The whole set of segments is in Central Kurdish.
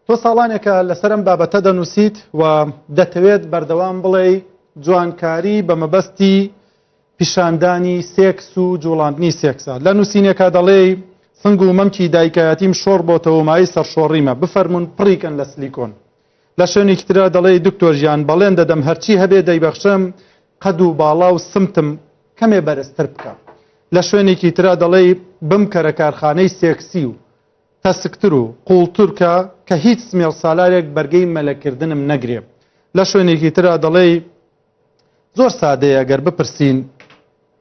تۆ ساڵانێکە لەسەر ئەم بابەتە دەنووسیت و دەتەوێت بەردەوام بڵێی جوانکاری بە مەبەستی پیشاندانی سێکس و جوڵاندنی سێکسە لە نووسینێکا دەڵێی سنگ و مەمکی دایکایەتیم شۆڕ بۆتەوە مای سەرشۆڕیمە بفەرمونون پڕیکەن لە سلیکۆن لە شوێنێکی تررا دەڵێ دکتۆر ژیان بەڵێن دەدەم هەرچی هەبێ دەیبەخشم قەد و باڵا و سمتم کەمێ بەرزتر بکە لە شوێنێکی تررا دەڵێ بم کەرە کارخانەی سێکسی و تەسکتر و قوڵتر کە کە هیچ سمێڵ سالارێک بەرگەی مەلە کردنم نەگرێ. لە شوێنێکی ترا دەڵێی زۆر سادەیە گەر بپرسین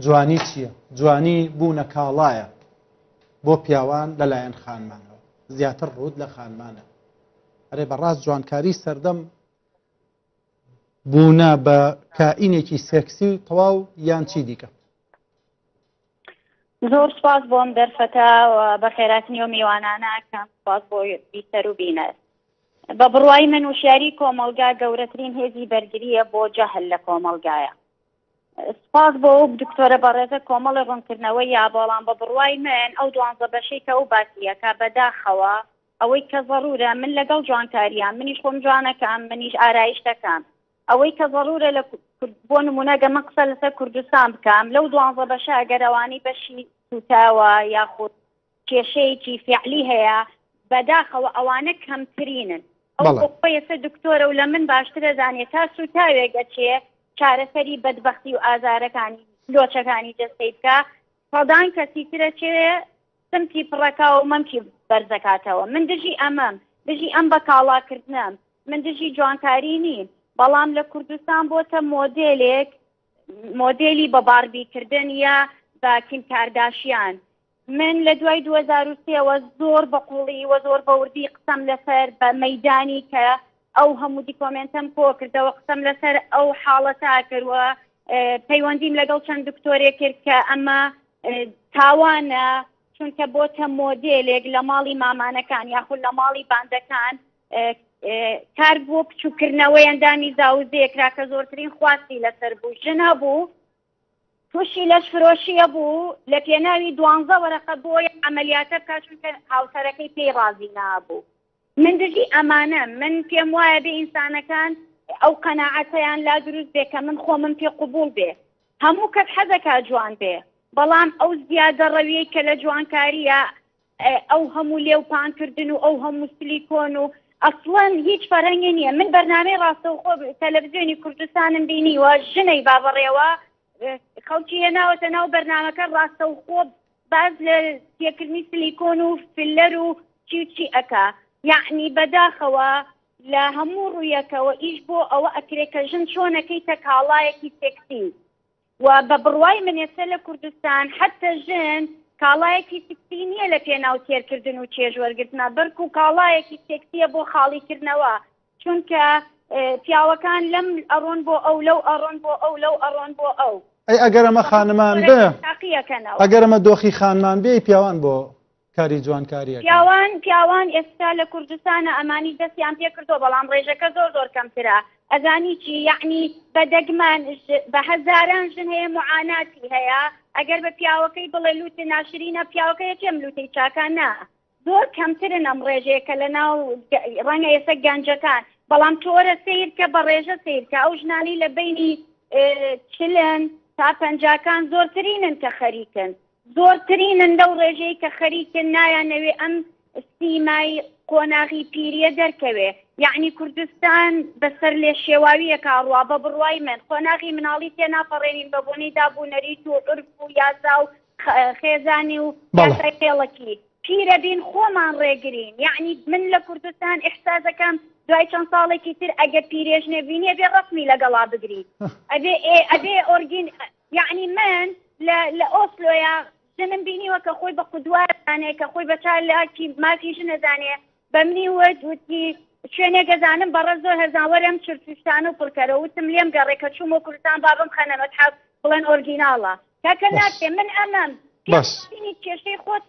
جوانی چییە؟ جوانی بوونە کاڵایە بۆ پیاوان لە لایەن خانمانەوە زیاتر ڕوود لە خانمانە ئەرێ بەڕاست جوانکاری سەردەم بوونە بە کائینێکی سێکسی و تەواو یان چی دیکە زۆر سپاس بۆم دەرفەتە بە خێراتنی و میوانانە کەم سپاس بۆ بیسەر و بینەر بە بڕوای من وشیاری کۆمەلگا گەورەترین هێزی بەرگریە بۆ جەهل لە کۆمەلگایە سپاس بۆ ئەو دکتۆرە بەڕێزە کۆمەڵی ڕوونکردنەوە یا بەڵام بە بڕوای من ئەو دوانزە بەشەی کە ئەو باسیەکە بەداخەوە ئەوەی کە ضرورە من لەگەڵ جوانکاریان منیش خۆم جوانەکەم منیش ئارایش دەکەم ئەوەی کە زەرورە لە بۆ نمونە گە من قسە لەسەر کوردستان بکەم لەو دوانزە بەشە ئەگەرەوانی بەشی سوتاوە یاخود کێشەیەکی فعلی هەیە بەداخەوە ئەوانە کەمترینن ئەو ئێستا دکتۆرە و لە من باشترە زانێت تا سوتاوێک ئەچێ چارەسەری بەدبختی و ئازارەکانی لۆچەکانی جەستەی بکە سەدان کەسی ترە چێ سمتی پڕەکا و مەمکی بەرزەکاتەوە من دژی ئەمەم دژی ئەم بە کاڵاکردنەم من دژی جوانکاری نیم بەڵام لە کوردستان بۆتە مۆدێلێک مۆدێلی بە باربیکردن یا بە کیم کارداشیان من لە دوای 2023ەوە زۆر بە قوڵی وە زۆر بەوردی قسەم لەسەر بە مەدانی کە ئەو هەموو دیکۆمێنتەم کۆکردەوە قسەم لەسەر ئەو حاڵەتا کردوە پەیوەندیم لەگەڵ چەند دکتۆرێ کرد کە ئەمە تاوانە چونکە بۆتە مۆدێلێک لە ماڵی مامانەکان یاخود لە ماڵی باندەکان کار بۆ بچووکردنەوەی ئەندامی زاوزێکرا کە زۆرترین خواستی لەسەر بوو ژن هەبوو تووشی لەش فرۆشیە بوو لە پێناوی دوانزە وەرەقە بۆی ئەعملیاتە بکات چونکە هاوسەرەکەی پێی ڕازی نابوو من دژی ئەمانەم من پێم وایە بێ ئینسانەکان ئەو قەناعەتەیان لا دروست بێ کە من خۆمم پێ قبوڵ بێ هەموو کەس حەزەکە جوان بێ بەڵام ئەو زیادە ڕەویەی کە لە جوانکاریە ئەو هەموو لێو پانکردن و ئەو هەموو سلی کۆن و ئەسڵەن هیچ فەرەنگی نییە من بەرنامەی ڕاستەوخۆ تەلەڤزیۆنی کوردستانم بینیوە ژنەی بابڕێوە خەڵکی هێناوەتە ناو بەرنمەکە ڕاستەوخۆ باس لە تێکردنی سلیکۆن و فیلەر و چی و چی ئەکا یەعنی بەداخەوە لە هەموو ڕوویەکەوە ئیش بۆ ئەوە ئەکرێ کە ژن چۆن ئەکەیتە کاڵایەکی سێکسی و بە بڕوای من ئێستا لە کوردستان حەتە ژن کاڵایەکی سکسی نییە لە پێناو تێرکردن و چێژوەرگرتنە بەرکو کاڵایەکی سێکسیە بۆ خاڵیکردنەوە چونکە پیاوەکان لەم ئەڕۆن بۆ ئەو لەو ئەڕۆن بۆ ئەو لەو ئەڕۆن بۆ ئەو. ئەی ئەگەر ئەمە خانمان بێ ئەگەر ئەمە دۆخی خانمان بێ پیاوان بۆ کاری جوانکاریە پیاوان پیاوان ئێستا لە کوردستانە ئەمانی دەستیان پێ کردو بەڵام ڕێژەکە زۆر زۆر کەمترە ئەزانی چی یعنی بەدەگمان بە هەزاران ژن هەیە معاناتی هەیە ئەگەر بە پیاوەکەی بڵێ لووت ناشرینە پیاوەکەی کێم لووتی چاکانە زۆر کەمترن ئەم ڕێژەیە کە لە ناو ڕەنگە ئێستا گەنجەکان بەڵام تۆرە سیرکە بە ڕێژە سیرکە ئەو ژنانی لە بینی چلن تا پەنجاکان زۆرترینن کە خەریکن زۆرترینن لەو ڕێژەیە کە خەریکن نایانەوێ ئەم سیمای قۆناغی پیریە دەرکەوێ یعنی کوردستان بەسەر لێ شێواویە کاڕوا بە بڕوای من قۆناغی مناڵی تێناپەڕێنین بە بۆنەی دابوونەریت و عرف و یاسا و خێزانی و خێڵەکی پیرەبین خۆمان ڕێگرین یعنی من لە کوردستان احسازەکەم دوای چەند ساڵێکی تر ئەگە پیرێژ نەبینێ بێ ڕسمی لەگەڵا بگری ئەبێ ئەبێ ئۆرگین یعنی من لە ئۆسلۆیا ژنم بینیوە کە خۆی بە قودوارزانێ کە خۆی بە چالاکی مافی ژنەزانێ بە منی وت وتی شوێنێک ئەزانم بەڕە زۆر هەرزان وەرم چرچشتان و پڕکەرە وتم لێم گەڕێ کە چووم و کوردستان بابم خەنە مەتحەف بڵێن ئۆرگیناڵە کاکە بەس ناکرێ من ئەمەم بەس پێ کێشەی خۆتە.